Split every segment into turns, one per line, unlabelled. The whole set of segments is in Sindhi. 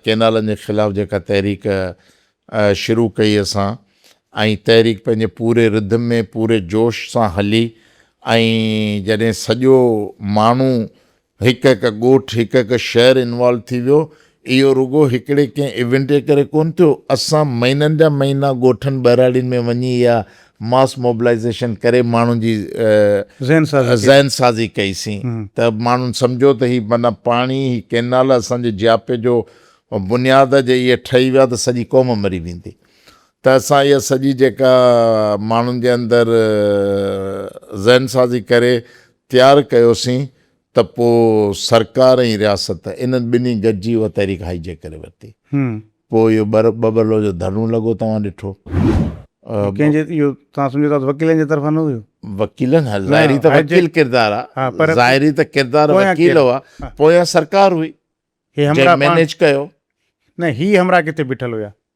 ڪينالن جي خلاف جيڪا تحريڪ شروع ڪئي اسان ۽ تحريڪ پنهنجي پوري رڌم ۾ پوري جوش سان هلي ۽ جڏهن سڄو ماڻهو هڪ هڪ ڳوٺ هڪ هڪ شهر انوالو ٿي ويو اهو رڳو هڪڙي ڪنهن ايونٽ جي ڪري ڪون ٿيو اسان مهينن جا مهينا ڳوٺن ٻهراڙين ۾ وڃي اها ماس موبلائيزيشن ڪري ماڻهن جي ذهن سازي ڪئي سين ته ماڻهن سمجهيو ته هي معنيٰ پاڻي هي ڪينال اسان جي جياپي جو بنياد آ جي اهي ٺهي ويا ته سڄي قوم مري ويندي ته اسان اها سڄي جيڪا ماڻهن جي اندر ذهن سازي ڪري تيار ڪيو سين ته پوء سرڪار ۽ رياست انهن ٻنهي گڏجي اها تحريڪ هائي جيڪ ڪري ورتي. پوء اهو ٻٻلو جو ڌرڻو لڳو توهان ڏٺو. ڪنهن جي اهو توهان
سمجهو ٿا ته وڪيلن جي طرفان نه هيو؟ وڪيلن ها ظاهري
ته وڪيل ڪردار ها ظاهري ته ڪردار وڪيل هئا پويان سرڪار هئي جنهن مينيج ڪيو. نه هي
همراهه ڪٿي بيٺل هيا؟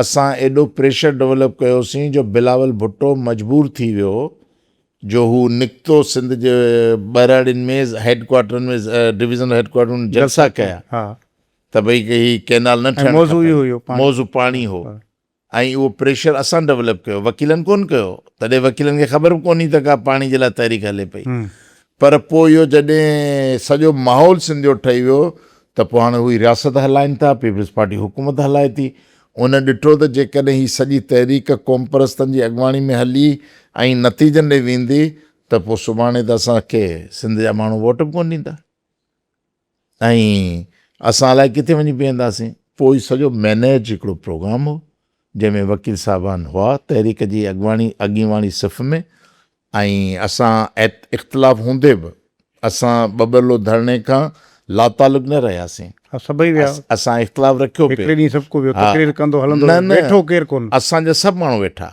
اسان
ايڏو پريشر ڊولپ ڪيوسين جو بلاول ڀٽو مجبور ٿي ويو جو هو نڪتو سنڌ جي ٻهراڙين ۾ هيڊ ڪوارٽرن ۾ ڊويزنل هيڊ ڪوارٽرن ۾ جلسا ڪيا ته ڀئي هي ڪينال نه ٺهڻ کپي موضوع پاڻي هو ۽ اهو پريشر اسان ڊولپ ڪيو وڪيلن ڪونه ڪيو تڏهن وڪيلن کي خبر به ڪونهي ته ڪا پاڻي جي لاء تحريڪ هلي پئي پر پوء اهو جڏهن سڄو ماحول سنڌ جو ٺهي ويو ته پوء هاڻي هو ئي رياست هلائين ٿا، پيپلز پارٽي حڪومت هلائي ٿي. ان ڏٺو ته جيڪڏهن هي سڄي تحريڪ قومپرستن جي اڳواڻي ۾ هلي ۽ نتيجن ڏي ويندي ته پوء سڀاڻي ته اسان کي سنڌ جا ماڻهو ووٽ به ڪونه ڏيندا. ۽ اسان الائي ڪٿي وڃي بيهنداسين. پوء سڄو مينيج هڪڙو پروگرام هو، جنهن ۾ وڪيل صاحبان هئا تحريڪ جي اڳواڻي اڳينواڻي صف ۾، ۽ اسان ات اختلاف هوندي به اسان ٻٻرلو ڌرڻي کان لاتعلق نه رهياسين. ها سڀئي ويا.
اسان اختلاف رکيو
پي. هڪڙي ڏينهن سڀڪو ويو. تقرير ڪندو هلندو ويو. ويٺو ڪير ڪونه. اسان جا سڀ ماڻهو ويٺا.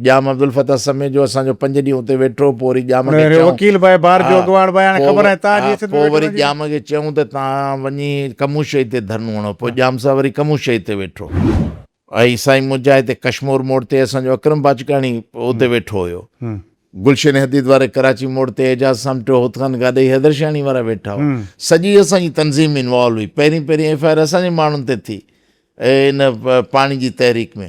ڄام عبدالفتاح سمي جو اسان جو پنج ڏينهن اتي ويٺو، پوء وري ڄام کي چيائون. وڪيل ڀائي بار جو اڳواڻ ڀائي هاڻي خبر ناهي تان جي سنڌ ۾ ويٺو نه جي. پوء وري ڄام کي چيائون ته تان وڃي کموشئي تي ڌرڻو هڻو، پوء ڄام صاحب وري کموشئي تي ويٺو. ۽ سائين منهنجا هتي ڪشمور موڙ تي اسان جو اڪرم باجڪاڻي اتي ويٺو هيو. گلشن حديد واري ڪراچي موڙ تي اعجاز سامٽيو، هوتخان گاڏهي حيدرشاهڻي وارا ويٺا هئا. سڄي اسان جي تنظيم انوالو هئي. پهرين پهرين ايف آء آر اسان جي ماڻهن تي ٿي ان پاڻي جي تحريڪ ۾.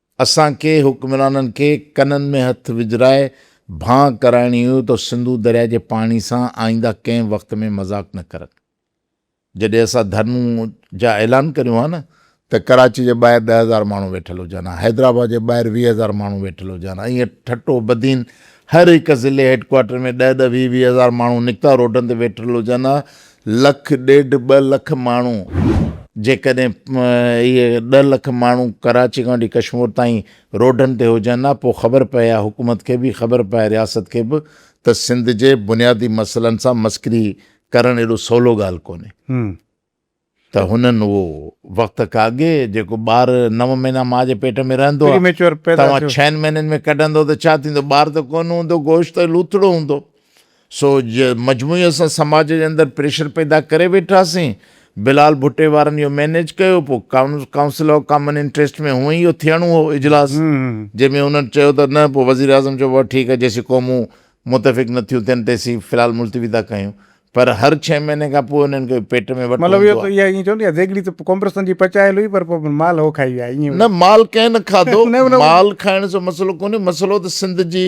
اسان کي حڪمرانن کي ڪنن ۾ هٿ وجهرائي ڀانء ڪرائڻي هئي ته سنڌو درياء جي پاڻي سان آئينده ڪنهن وقت ۾ مذاق نه ڪرن. جڏهن اسان ڌرڻو جا اعلان ڪريون ها نه ته ڪراچي جي ٻاهر ڏهه هزار ماڻهو ويٺل هجن ها، حيدرآباد جي ٻاهر ويهه هزار ماڻهو ويٺل هجن ها، ائين ٺٽو، بدين هر هڪ ضلعي هيڊڪوارٽر ۾ ڏهه ڏهه ويهه ويهه هزار ماڻهو نڪتا روڊن تي ويٺل هجن ها لک ڏيڍ ٻه لک ماڻهو جيڪڏهن اهي ڏهه لک ماڻهو ڪراچي کان وٺي ڪشمور تائين روڊن تي هجن ها پوء خبر پئي ها حڪومت کي به خبر پئي ها رياست کي به ته سنڌ جي بنيادي مسئلن سان مسڪري ڪرڻ ايڏو سولو ڳالهه ڪونهي ته هنن اهو وقت کان اڳي جيڪو ٻار نو مهينا ماء جي پيٽ ۾ رهندو توهان ڇهن مهينن ۾ ڪڍندو ته ڇا ٿيندو ٻار ته ڪونه هوندو گوشت لوٿڙو هوندو سو مجموعي اسان سماج جي اندر پريشر پيدا ڪري ويٺاسين، بلال ڀٽي وارن اهو مينيج ڪيو، پوء ڪائونسل آف ڪامن انٽريسٽ ۾ هونئن ئي اهو ٿيڻو هو اجلاس، جنهن ۾ انهن چيو ته نه پوء وزيراعظم چيو بابا ٺيڪ آهي جيسين قومون متفق نه ٿيون ٿين تيسين في الحال ملتوي ٿا ڪيون، پر هر ڇهين مهيني کان پوء انهن کي پيٽ ۾ وٺ هوندو
آهي. نه مال ڪنهن نه
کاڌو، مال کائڻ سان مسئلو ڪونهي، مسئلو ته سنڌ جي